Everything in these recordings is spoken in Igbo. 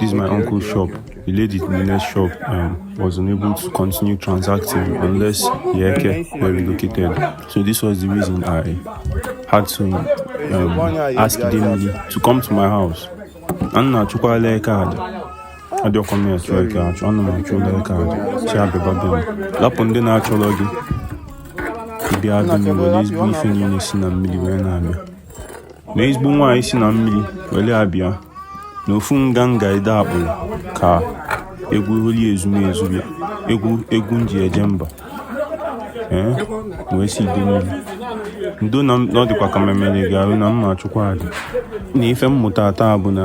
This is my okay, uncle's okay, shop. Okay, okay. The lady in the next shop um, was unable to continue transacting unless the Eke were relocated. So this was the reason I had to um, ask Idemili to come to my house. A na-achụkwalụ eke aja adịrọkwa m achụ eke achụ ana m achụlụ eke aja sị ya bịaba be m lapụ ndị na-achọrọ gị ị bịa be m were ezigbo ife niile si na mmiri wee na-abịa na ezigbo nwaanyị si na mmiri were abịa na ofu nganga ide akpụrụ ka egwu holi ezumezu bịa egwu egwu m ji eje mba m wee sị Idemili ndo na ọ dịkwa ka m emere gị arụ na m ma-achụkwa aja na ife m mụta taa bụ na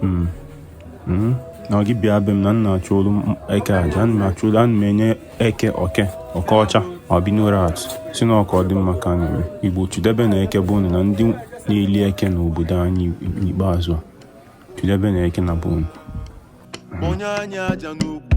Hmm. Hmm. na gị bịa be m na m na-achụọlụ eke aja ana m achụọlụ ana m enye eke oke oke ọcha albino rat sị na ọ ka ọ dị mma ka a na-eme Igbo chidebe na eke bụ na ndị na-eli eke na obodo anyị n'ikpeazụ a chidebe na eke na bụ onye anya aja n'ugwu